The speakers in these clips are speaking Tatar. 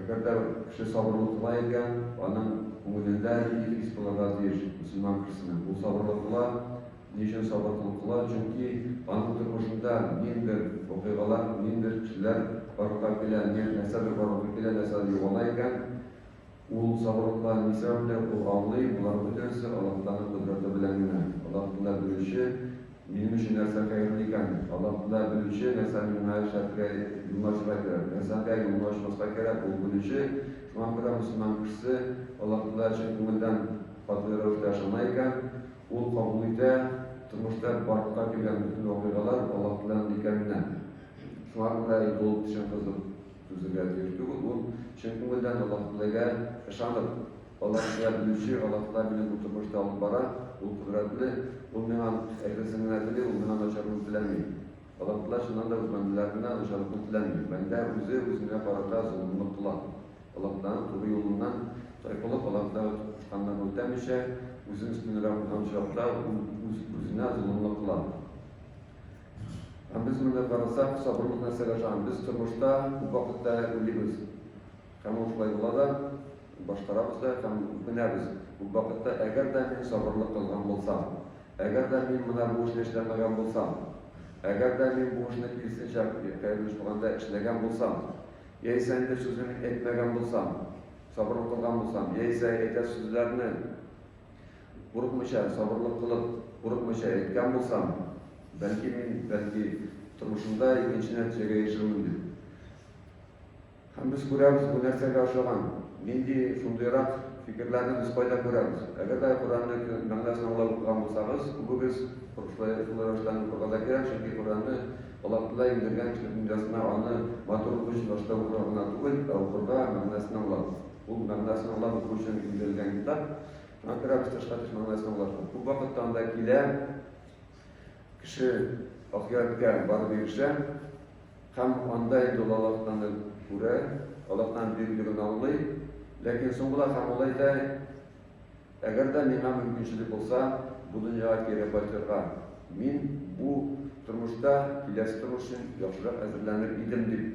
Әгәр дә кеше сабырлы кыла икән, аның күңелендә нинди хис булырга тиеш? Мөселман кешесенең бу сабырлы кыла, ни өчен сабырлы кыла? Чөнки аның тормышында ниндидер вакыйгалар, ниндидер кешеләр барлыкка килә, нәрсәдер барлыкка килә, нәрсәдер югала икән, Ул сабырлыкта Миса белә, ул аңлый, болар бөтенесе Аллаһтаның кодрәте белән генә. Аллаһ Тәгалә Белүче, минем өчен нәрсә хәерле икән? Аллаһ Тәгалә Белүче, нәрсәне миңа эшләргә, юнлашырга кирәк, нәрсәгә юнлашмаска кирәк, Ул Белүче. Шуңа күрә мөселман кешесе Аллаһ Тәгалә чын күңелдән катгый рәвештә ышана икән, ул кабул итә, тормышта барлыкка килгән бөтен вакыйгалар Аллаһ Тәгаләнең икәненә. Шуңа күрә инде ул чын кызык. Түзергә тиеш түгел ул, чын күңелдән Аллаһнегә ышанып, Аллаһнегә белүче, Аллаһнегә мине бу тормышта алып бара, ул кодрәтле, ул миңа әйбәтен генә тели, ул миңа начарлыгын теләми. Аллаһтәгалә чыннан да үз бәндәләренә начарлыкны теләми. Бәндә үзе үзенә карата золымлык кыла. Аллаһтәгаләнең туры юлыннан тайпылып, Аллаһтәгалә кушканнарны үтәмичә, үзен өстенрәк куйган очракта, ул үз-үзенә золымлык кыла. Һәм без моны карасак, сабырыбыз нәрсәгә ышанып, без тормышта күп вакытта үлибез. Һәм ул шулай була да, башкарабыз да һәм үкенәбез күп вакытта, әгәр дә мин сабырлык кылган булсам, әгәр дә мин менә бу эшне эшләмәгән булсам, әгәр дә мин бу эшне киресенчә, кайбер булганда, эшләгән булсам, яисә инде сүзне мин әйтмәгән булсам, сабырлык кылган булсам, яисә әйтәсе сүзләрне. Курыкмыйча, сабырлык кылып, курыкмыйча әйткән булсам, бәлки мин, бәлки, тормышымда икенче нәтиҗәгә ирешермен дип. Һәм без күрәбез, бу нәрсәгә охшаган. Нинди шундыйрак фикерләрне без кайда күрәбез? Әгәр дә Коръәнне мәгънәсен аңлап укыган булсагыз, күбегез шулай рәвештән укырга да кирәк, чөнки Коръәнне Аллаһ Тәгалә иңдергән кешелек дөньясына аны матурлык өчен башта укырга гына түгел, ә укырга, мәгънәсен аңлап. Ул мәгънәсен аңлап уку өчен иңдерелгән китап. Акрак тышка төшмәгән сынаулардан. Күп вакытта анда килә, кеше ахиятка барып ирешә, һәм анда инде ул Аллаһтаны күрә, Аллаһтан бирелеген аңлый, ләкин соң була һәм ул әйтә, әгәр дә миңа мөмкинчелек булса, бу дөньяга кире кайтырга, мин бу тормышта киләсе тормыш өчен яхшырак әзерләнер идем, дип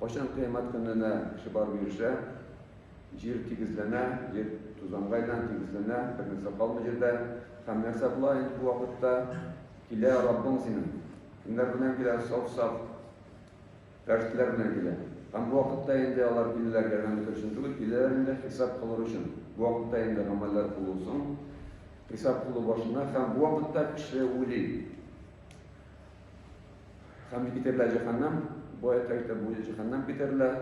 Кайчан кыямәт көненә кеше барып ирешә? Җир тигезләнә, җир тузанга әйләнә, тигезләнә, бер нәрсә калмый җирдә. Һәм нәрсә була инде бу вакытта? Килә Раббың синең. Кемнәр белән килә? Саф-саф фәрештәләр белән килә. Һәм бу вакытта инде алар киләләр ярдәм итер өчен түгел, киләләр инде хисап кылыр өчен. Бу вакытта инде гамәлләр кылулсын, хисап кылу башына һәм бу вакытта кеше уйлый. Һәм китәрләр җәһәннәм, бу аятта әйтә, бу җәһәннәм китәрләр.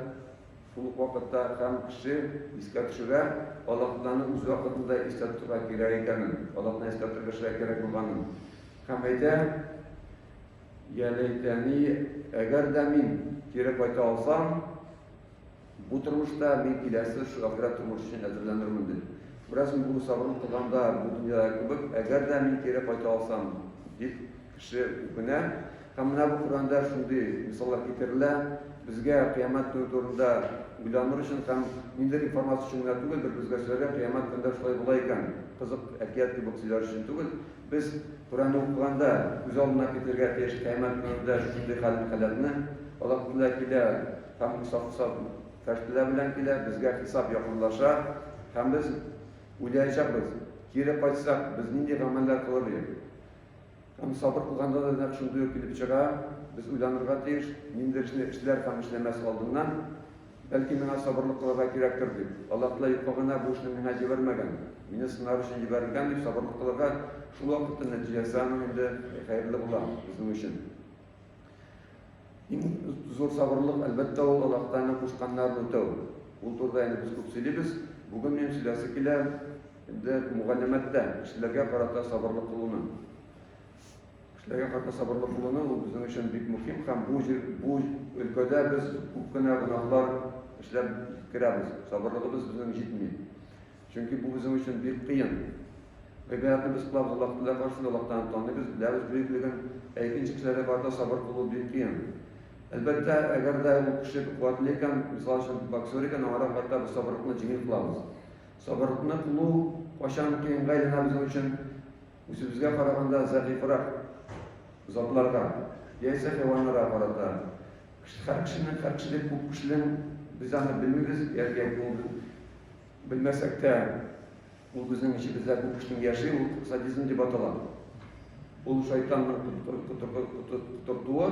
Шул ук вакытта һәм кеше искә төшерә, Аллаһтан үз вакытында искә тотырга кирәк икәнен, Аллаһны искә тотып яшәргә кирәк булганын. Һәм әйтә, Йә ләйтәни, әгәр дә мин кире кайта алсам, Бу тормышта мин киләсе шагыйрә тормыш өчен әзерләнермен дип. Бераз мин урыс авырып торганда бу дөньяда кебек, әгәр дә мин кире кайта алсам, дип кеше үкенә. Һәм менә бу Коръәндә шундый мисаллар китерелә. Безгә кыямәт көне турында уйланыр өчен һәм ниндидер информация өчен генә түгел, бер үзгәрсәләр, кыямәт көндә шулай була икән, кызык әкият кебек сөйләр өчен түгел. Без Коръәнне укыганда күз алдына китерергә тиеш кыямәт көнендә шундый хәл-халәтне. Аллаһ Тәгалә килә. Һәм Муса фәрештәләр белән килә, безгә хисап якынлаша, һәм без уйлаячакбыз, Кире кайтсак, без нинди гамәлләр кылыр идек? Һәм сабыр кылганда да нәкъ шундый ук килеп чыга, без уйланырга тиеш, ниндидер эшне эшләр һәм эшләмәс алдыннан, Бәлки миңа сабырлык кылырга кирәктер, дип, Аллаһ Тәгалә юкка гына бу эшне миңа җибәрмәгән, мине сынар өчен җибәрелгән, дип сабырлык кылырга, шул вакытта нәтиҗәсе аның инде хәерле була безнең өчен. Иң зур сабырлык, әлбәттә, ул Аллаһтан кушканнарны үтәү. Ул турыда инде без күп сөйлибез. Бүген мин сөйләсе килә инде мугаллимәттән, кешеләргә карата сабырлык кылуны. Кешеләргә карата сабырлык кылуны ул безнең өчен бик мөһим һәм бу җир, бу өлкәдә без күп кенә гөнаһлар эшләп керәбез. Сабырлыгыбыз безнең җитми. Чөнки бу безнең өчен бик кыен. Гыйбаятны без кылабыз, Аллаһны да каршы, Аллаһтан таныйбыз, беләбез бөеклеген, ә икенче кешеләргә карата сабыр булу бик кыен. Әлбәттә, әгәр дә ул кеше бик куәтле икән, мисал өчен, боксер икән, аңа рәхмәттә без сабырлыкны җиңел кылабыз. Сабырлыкны кылу кайчан кыенга әйләнә безнең өчен? Үзебезгә караганда зәгыйфьрәк затларга, яисә хайваннарга карата. Һәр кешенең, һәр кешедә күп кешенең, без аны белмибез, яки күңел Белмәсәк тә, ул безнең эчебездә күп кешенең яши, ул садизм дип атала. Ул шайтанның котыртуы.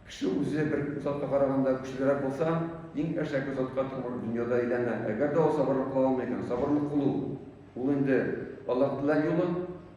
Кеше үзе бер затка караганда көчлерәк булса, иң әшәке затка тамыр дөньяда әйләнә. Әгәр дә ул сабырлык кыла алмый икән, сабырлык кылу, ул инде Аллаһ теләгән юлы.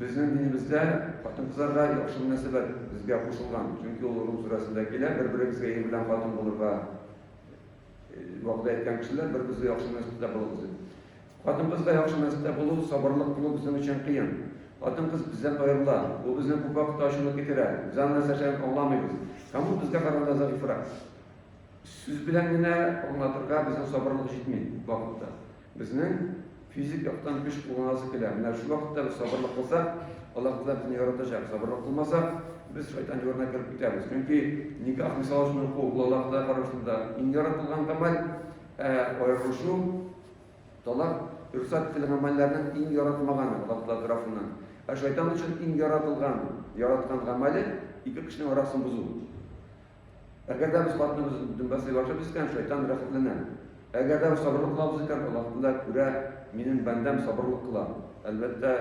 Безнең динебездә хатын-кызларга яхшы мөнәсәбәт безгә кушылган, чөнки ул Рум сүрәсендә килә, бер-берегезгә ир белән хатын булырга вәгъдә иткән кешеләр, бер-берегезгә яхшы мөнәсәбәттә булыгыз дип. Хатын-кызга яхшы мөнәсәбәттә булу, сабырлык кылу безнең өчен кыен. Хатын-кыз бездән аерыла, бу безнең күп вакытта ачуны китерә, без аны нәрсә эшләгәнен аңламыйбыз. Һәм ул безгә караганда зәгыйфьрәк. Сүз белән генә аңлатырга безнең сабырлык җитми вакытта. Безнең физик яктан көч кулланасы килә. Менә шул вакытта без сабырлык кылсак, Аллаһ Тәгалә безне яратачак. Сабырлык кылмасак, без шайтан юлына кереп китәбез. Чөнки никах мисал өчен уку, ул Аллаһ Тәгалә карашында иң яратылган гамәл, ә аерылышу, талак, рөхсәт ителгән гамәлләрнең иң яратмаганы Аллаһ Тәгалә тарафыннан. Ә шайтан өчен иң яратылган, яраткан гамәле ике кешенең арасын бозу. Әгәр дә без хатыныбыз дөнбә сыйлашып искән, шайтан рәхәтләнә. Әгәр дә сабырлык лафз икән, ул хакында күрә, минем бәндәм сабырлык кыла. Әлбәттә,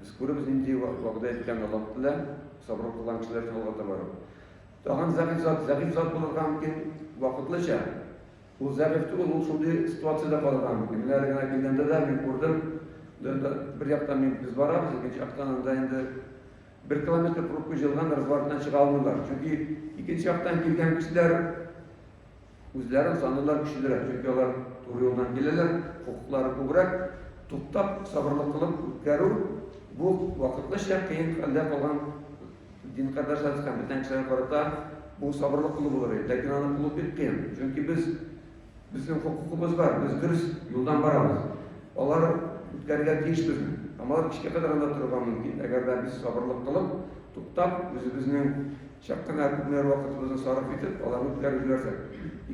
без күребез нинди вәгъдә иткән Аллаһ Тәгалә, сабырлык кылган кешеләр өчен алга таба. Тагын зәгыйфь зат, зәгыйфь зат булырга мөмкин вакытлыча. Ул зәгыйфь түгел, ул шундый ситуациядә калырга мөмкин. Менә әле генә килгәндә дә мин күрдем, бер яктан мин без барабыз, икенче яктан анда инде Бер километр пробка җыелган разворотнан чыга алмыйлар, чөнки икенче яктан килгән кешеләр үзләрен саныйлар көчлерәк, чөнки алар туры юлдан киләләр, хокуклары күбрәк. Туктап, сабырлык кылып үткәрү, бу вакытлыча кыен хәлдә калган дин кардәшләребез һәм бүтән кешеләргә карата бу сабырлык кылу булыр иде, ләкин аны кылу бик кыен, чөнки без Безнең хокукыбыз бар, без дөрес юлдан барабыз. Алар үткәрергә тиеш безне. Һәм алар кичкә кадәр анда торырга мөмкин, әгәр дә без сабырлык кылып, туктап, үзебезнең чак кына күпмелер вакытыбызны сарыф итеп, аларны үткәреп җибәрсәк.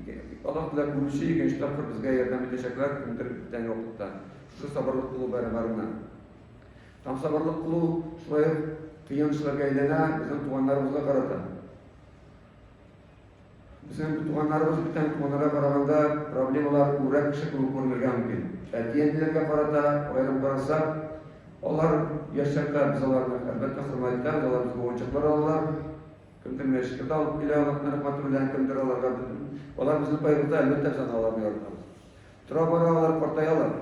Ике, Аллаһ Тәгалә күрүче икенче тапкыр безгә ярдәм итәчәкләр кемдер беткән вакытта. Шушы сабырлык кылу бәрабәренә. Һәм сабырлык кылу шулай ук кыен эшләргә әйләнә безнең туганнарыбызга карата. Үзенең туганнарыбыз бүтән туганнарга караганда проблемалар күбрәк кеше кебек күренергә мөмкин. Әти-әниләргә карата аерым карасак, алар яшь чакта без аларны, әлбәттә, хөрмәткә, без алар безгә уенчыклар алалар, кемдер мәчеткә дә алып килә, нык рәхмәте белән, кемдер аларга, алар безне кайгырта, әлбәттә, без аларны яратабыз. Тора-бара алар картаялар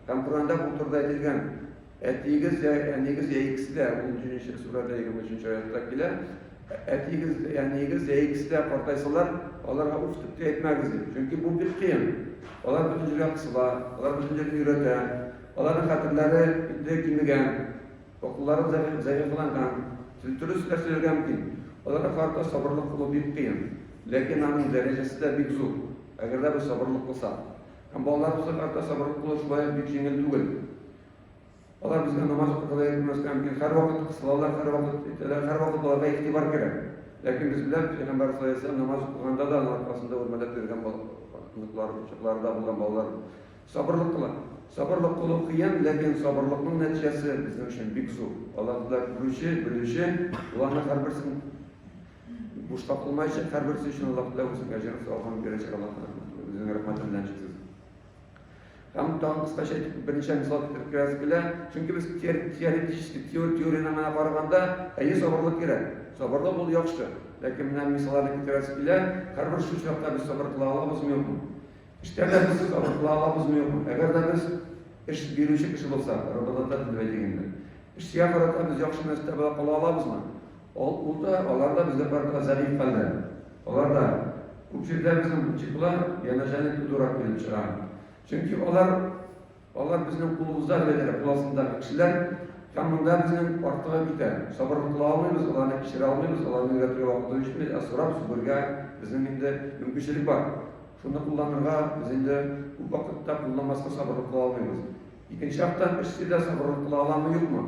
һәм Коръәндә бу турыда әйтелгән, Әтиегез йә әниегез йә икесе дә, унөченче сүрәдә егерме өченче аятта килә, Әтиегез йә әниегез йә икесе дә картайсалар, аларга уф дип тә әйтмәгез, ди. Чөнки бу бик кыен. Алар бөтен җиргә кысыла, алар бөтен җирне өйрәтә. Аларның хәтерләре инде кимегән. Акыллары зәгыйфьланган, телтүрес эшләр сөйләргә мөмкин. Аларга карата сабырлык кылу бик кыен. Ләкин аның дәрәҗәсе дә бик зур, әгәр дә без сабырлык кылсак. Һәм балаларыбызга карата сабырлык кылу шулай ук бик җиңел түгел. Алар безгә намаз укырга да йөрмәскә мөмкин. Һәрвакыт кысылалар, һәрвакыт әйтәләр, һәрвакыт аларга игътибар кирәк. Ләкин без беләбез, Пәйгамбәр саллаллаһу алейһи ва сәлләм намаз укыганда да аның аркасында үрмәләп йөргән оныклары, кочакларында булган балалар. Сабырлык кылам. Сабырлык кылу кыен, ләкин сабырлыкның нәтиҗәсе безнең өчен бик зур. Аллаһыда күрүче, белүче, боларның һәрберсен бушка кылмаячак, һәрберсе өчен Аллаһыда үзенең әҗерен савабын бирәчәк Аллаһыда. Үзенең рәхмәте белән чиксез. Һәм тагын кыскача әйтеп, берничә мисал китереп керәсе килә. Чөнки без теоретически, теорияне генә караганда, әйе, сабырлык кирәк. Сабырлык ул яхшы. Ләкин менә мисалларны китерәсе килә, һәрбер шул чакта без сабыр кыла алабызмы, юкмы? Эштән без алып кыла алабызмы юкмы? Әгәр дә без эш бирүче кеше булса, работодатель дип әйтик инде. Эшчегә карата без яхшы мәртәбәдә кала алабызмы? Ул, ул да, алар да безгә карата зәгыйфь хәлдә. Алар да күп җирдә безнең чиклар янәшәне тудырак килеп чыга. Чөнки алар Алар безнең кулыбызда гына генә кул астындагы кешеләр һәм монда безнең артыгы китә. Сабырлык кыла алмыйбыз, аларны кичерә алмыйбыз, аларны өйрәтергә вакытыбыз җитми, ә сорап сүгергә безнең инде мөмкинчелек бар. Шуны кулланырга без инде күп вакытта кулланмаска сабырлык кыла алмыйбыз. Икенче яктан, эшче дә сабырлык кыла аламы, юкмы?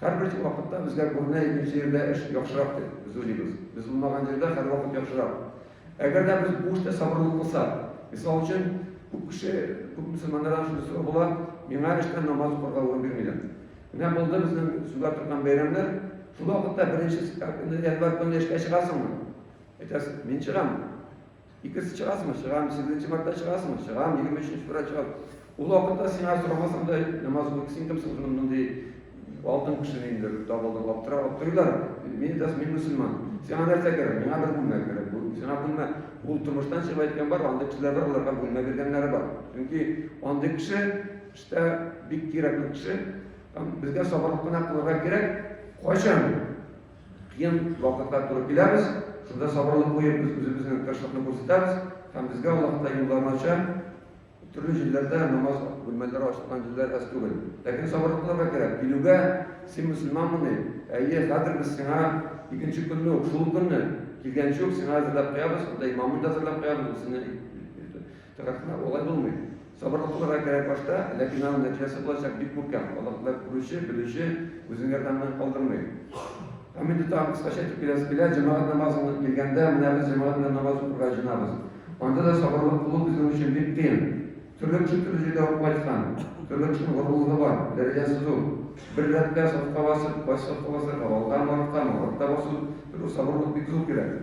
Һәрбер вакытта безгә күренә икенче җирдә эш яхшырак дип, без уйлыйбыз. Без булмаган җирдә һәрвакыт яхшырак. Әгәр дә без бу эштә сабырлы кылсак. Мисал өчен, күп кеше, күп мөселманнардан шундый сорау була, Миңа эштә намаз укырга урын бирмиләр. Менә булды безнең сүгә торган бәйрәмнәр, шул вакытта беренче январь көнне эшкә чыгасыңмы? Әйтәсең, Мин чыгам. Икенче чыгасыңмы? Чыгам. Сигезенче мартта чыгасыңмы? Чыгам. Егерме өченче февраль чыгам. Ул вакытта сиңа сорамасам да, намаз укып син кемсең шуны мондый алтын кешене инде табылдым, аптырап аптырыйлар. Мин дәс мин мөселман. Сиңа нәрсә кирәк? Миңа бер бүлмә кирәк. Бу сиңа бүлмә. Ул тормыштан чыгып әйткән бар, андый кешеләр бар, аларга бүлмә биргәннәре бар. Чөнки андый кеше эштә бик кирәкле кеше. Там безгә сабырлык кына кылырга кирәк. Кайчан? Кыен вакытлар туры киләбез, шунда сабырлык куеп, без үзебезнең тырышлыкны күрсәтәбез һәм безгә Аллаһ та юлларын ача. Төрле җирләрдә намаз бүлмәләре ачылган җирләр әз түгел. Ләкин сабырлык кылырга кирәк. Килүгә, Син мөселманмыни? Әйе, хәзер без сиңа икенче көнне үк, шул ук көнне, килгәнче үк сиңа әзерләп куябыз, анда имамын да әзерләп куябыз, ул сине Тырышлык болай булмый. Сабырлык булырга кирәк башта, ләкин аның нәтиҗәсе булачак бик күркәм, Аллаһтагы күрүче, белүче, үзен ярдәмнән калдырмый. Һәм инде тагын кыскача әйтеп киләсе килә, җәмәгать намазына килгәндә, менә без җәмәгать белән намаз укырга җыенабыз. Анда да сабырлык булу безнең өчен бик кыен. Төрле кеше төрле җирдә укып кайткан, төрле кешенең горурлыгы бар, дәрәҗәсе зур. Бер рәткә сафка басып, кайсы сафка басырга, алдамы, арткамы, артта басу, төрле сабырлык бик зур кирәк.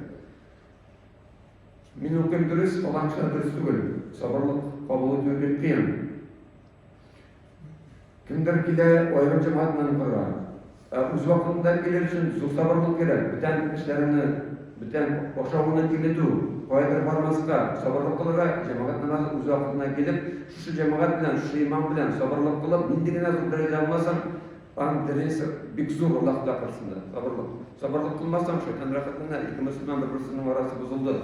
Мин укыйм дөрес, фаланчылар дөрес түгел. Сабырлык кабул итү бик кыен. Кемдер килә аерым җәмәгать белән укырга. Ә үз вакытында килер өчен зур сабырлык кирәк. Бүтән эшләреңне, бүтән ашавыңны киметү, каядыр бармаска, сабырлык кылырга, җәмәгать намазы үз вакытына килеп, шушы җәмәгать белән, шушы имам белән сабырлык кылып, нинди генә зур дәрәҗә алмасын, Аның дәрәҗәсе бик зур, Аллаһ Тәгалә каршында. Сабырлык. Сабырлык кылмасаң, шайтан рәхәтләнә. Ике мөселман бер-берсенең арасы бозылды.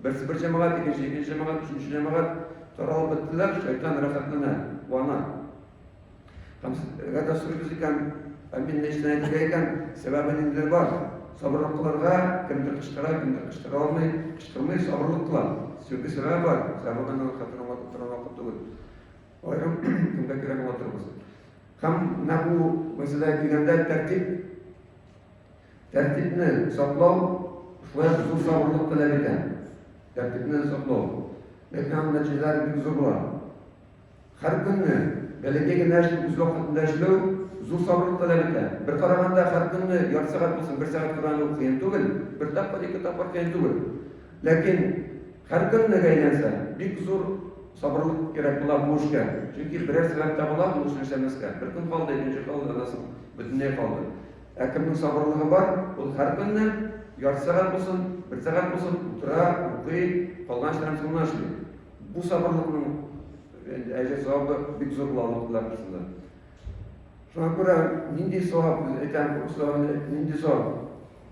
Берсе бер җәмәгать, икенче икенче җәмәгать, өченче җәмәгать таралып беттеләр, шайтан рәхәтләнә, куана. Һәм әгәр дә сорыйбыз икән, ә мин ни өчен әйтергә икән? Сәбәбе ниндидер бар. Сабырлык кылырга кемдер кычкыра, кемдер кычкыра алмый, кычкырмый, сабырлык кыла. Чөнки сәбәбе бар. Сәбәбе аның хәтерен аңлатып торган вакыт түгел. Аерым көндә керә була торабыз. Һәм менә бу мәсьәләгә килгәндә тәртип, тәртипне саклау шулай ук зур сабырлык таләп итә. Тәртипне саклау. Ләкин аның нәтиҗәләре бик зур була. Һәр көнне бәләкәй генә эшне үз вакытында эшләү зур сабырлык таләп итә. Бер караганда һәр көнне ярты сәгать булсын, бер сәгать кыйн түгел, бер тапкыр, ике тапкыр кыйн түгел. Ләкин Һәркем нык әйләнсә, бик зур сабырлык кирәк була бу эшкә, чөнки берәр сәбәп табыла ул эшне эшләмәскә. Бер көн калды, икенче калды, аннан соң бөтенләй калды. Ә кемнең сабырлыгы бар, ул һәркөнне, ярты сәгать булсын, бер сәгать булсын, утыра, укый, калган эшләрен соңыннан эшли. Бу сабырлыкның әҗер-савабы бик зур була Аллаһ Тәгалә каршында. Шуңа күрә нинди савап, без әйтәм, күп сораганнар, нинди савап?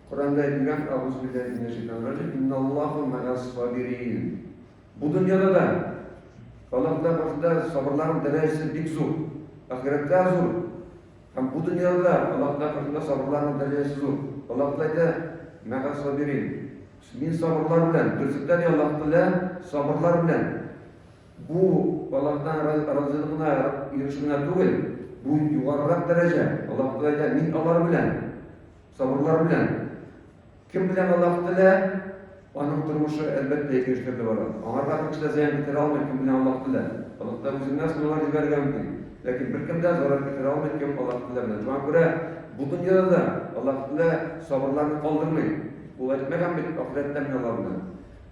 Коръәндә әйтелгән Әгузубилләһи минәшшәйтанир-раҗим, Инналлаһу мәгәс-сабирин. Бу дөньяда да Аллаһ Тәгалә каршында сабырларның дәрәҗәсе бик зур, ахирәттә зур. Һәм бу дөньяда да Аллаһ Тәгалә каршында сабырларның дәрәҗәсе зур. Аллаһ Тәгалә әйтә, Мәгәс-сабирин. Мин сабырлар белән, берсендә ни Аллаһ Тәгалә сабырлар белән. Бу Аллаһтан разыйлыгына ирешү генә түгел, бу югарырак дәрәҗә. Аллаһ Тәгалә әйтә, мин алар белән. Сабырлар белән. Кем белән Аллаһ телә, аның тормышы, әлбәттә, ике өч төрле бара. Аңарга бер кеше дә зыян китерә алмый, кем белән Аллаһ телә. Аллаһ та үзеннән сынаулар җибәрергә мөмкин. Ләкин беркем дә зарар китерә алмый, кем Аллаһ телә белән. Шуңа күрә бу дөньяда да Аллаһ телә сабырларны калдырмый. Ул әйтмәгән бит, ахирәттә мин алар белән.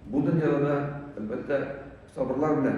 Бу дөньяда да, әлбәттә, сабырлар белән.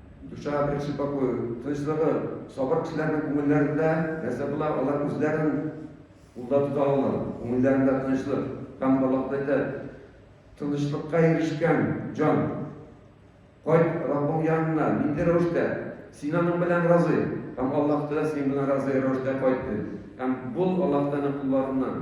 Душа беренче покой, тынычлыгы, сабыр кешеләрнең күңелләрендә нәрсә була, алар үзләрен кулда тота ала, күңелләрендә тынычлык. Һәм Аллаһ әйтә, тынычлыкка ирешкән җан, кайт Раббың янына, нинди рәвештә? Син аның белән разый, һәм Аллаһ та синең белән разый рәвештә кайт, ди. Һәм бул Аллаһ Тәгаләнең кулларыннан.